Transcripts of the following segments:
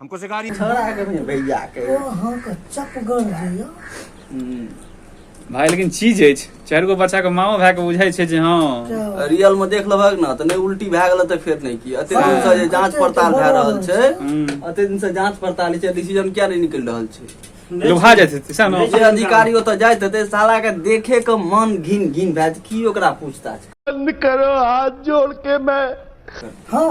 हमको सिखा रही छोड़ा है कभी भैया के ओ हां के चप गड़ दियो हम्म। भाई लेकिन चीज अछि चारि गो बच्चा के माओ भाई के बुझाई छै जे हां रियल में देख लबक ना त नै उल्टी भए गेल त फेर नै की अते दिन से जे जांच पड़ताल भए रहल छै हम्म। अते दिन से जांच पड़ताल छै डिसीजन किया नै निकल रहल छै लुभा जाइत हेतै सएह ने जे अधिकारी ओतऽ जाइत हेतै साला के देखे के मन घिन घिन भए जायत की ओकरा पूछताछ बंद करो हाथ जोड़ के मैं हाँ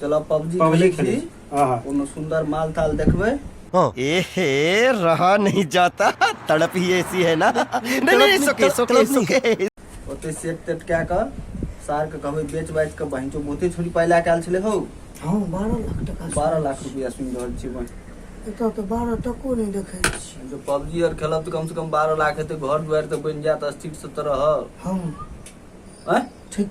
चलो पबजी पबजी खेले खेले छी हाँ हाँ कोनो सुंदर माल ताल देखबे एहे रहा नहीं जाता तड़प ही ऐसी है ना नहीं नहीं सोके सोके सोके ओते सेट तेट कए कऽ सार के कहबै बेच बाच कऽ बहिन चो बहुते छोड़ी पाइ लए कऽ आयल छलै हौ हाँ बारह लाख टका बारह लाख रुपया सुनि रहल छी बहिन एतऽ तऽ बारह टको नहि देखै छी जो पबजी आर खेलब तऽ कम से कम बारह लाख हेतै घर दुआरि तऽ बनि जायत स्थिर से तऽ रहब हाँ आँय ठीक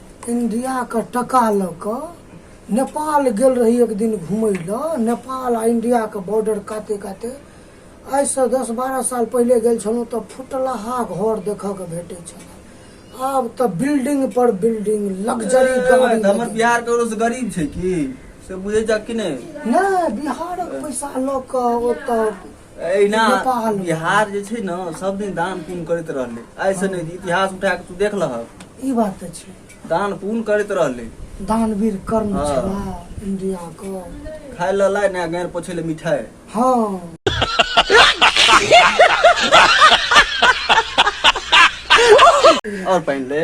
इंडिया का टका लऽ कऽ नेपाल गेल रही एक दिन घूमय लऽ नेपाल आ इंडिया के बॉर्डर काते काते आइ से दस बारह साल पहिले गेल छलहुँ तऽ फुटलहा घर देखऽ के भेटै छल आब तऽ बिल्डिंग पर बिल्डिंग लग्जरी गाड़ी हमर बिहार ककरो से गरीब छै की से बुझे जा कि नहीं नहि बिहारक पैसा लऽ कऽ ओतऽ एहिना बिहार जे छै ने सब दिन दान पुण्य करैत रहलै ऐसे नहि इतिहास उठा के तू देख लह ई बात तऽ छै दान पुण्य करैत रहलै दानवीर कर्म हाँ। छला इंडिया को खाय ल लाय ने गैर पोछे ले मिठाई हाँ और पहन ले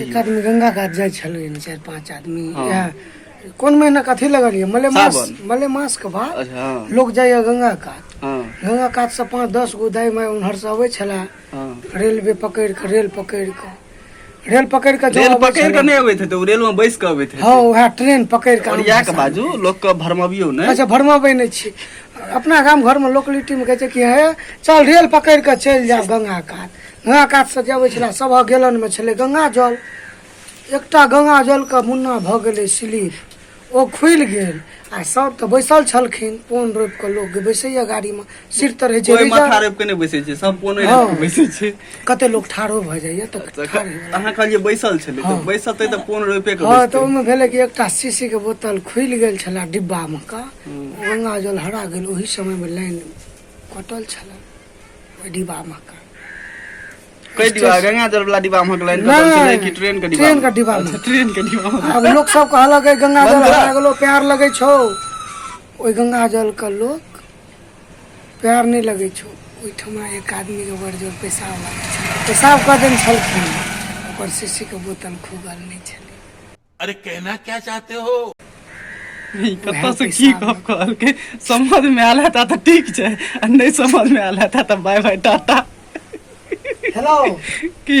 एक आदमी गंगा कात जाइ छलै चारि पाँच आदमी इएह कोन महीना के अथी लगल यऽ मलेमास सावन। मलेमास के बाद अच्छा हाँ लोग जाइया गंगा कात हाँ गंगा कात से पाँच दस गो दाई माय उम्हर से अबै छला हाँ रेलवे पकड़ि कऽ रेल पकड़ि कऽ रेल पकड़ि कऽ जब रेल अबै पकड़ के छला- नहीं अबे थे तो रेल में बैस के अबे थे हाँ उएह ट्रेन पकड़ि कऽ और आम या के भाषा मे। बाजू लोग के भरमबियो ने अच्छा भरमाबै नहि छी अपना गाम घरमे लोकलिटीमे कहै छै कि हे चल रेल पकड़ि कऽ चलि जायब गंगा कात गंगा कात से जे अबै छला सभक गेलन में छलै गंगा जल एकटा गंगा जल के मुन्ना भऽ गेलै स्लिप ओ खुलि गेल आ सब तऽ बैसल छलखिन पोन रोपि कऽ लोक बैसैया गाड़ी में सिर तऽ रहै छै कोई रिजर्व। माथा रोप के नहीं बैसे छे सब पोने हाँ। रोप के बैसे छे कते लोक ठाढ़ो भऽ जाइया तऽ ठाढ़ होइ वला। अहाँ कहलिए बैसल छले तो हाँ। बैसते तो पोन रोपे के हँ तऽ बैसते ओहिमे भेलै कि एकटा शीशी के बोतल खुलि गेल छलए डिब्बामे का गंगा जल हरा गेल ओहि समयमे लाइन कटल छलए ओहि डिब्बा मे कऽ। कई डिब्बा गंगा जल वाला डिब्बा में हकलाइन नहीं, कतल छलै कि ट्रेन के डिब्बा ट्रेन के डिब्बा में। अच्छा, ट्रेन के डिब्बा में। आब लोक सब कहलक "ए, गंगा जल बंद करा। हरा गेलो प्यार लगै छौ ओहि गंगा जल के लोक प्यार नहि लगै छौ ओहिठमा एक आदमी के बड़ जोर पेशाब लागल छल पेशाब कऽ देने छलखिन ओकर शीशी के बोतल खुगल नहि छलै अरे कहना क्या चाहते हो ई कतऽसँ की गप कहलकै समझमे आयल हेता तऽ ठीक छै आ नहि समझमे आयल हेता तऽ बाय बाय टाटा हेलो की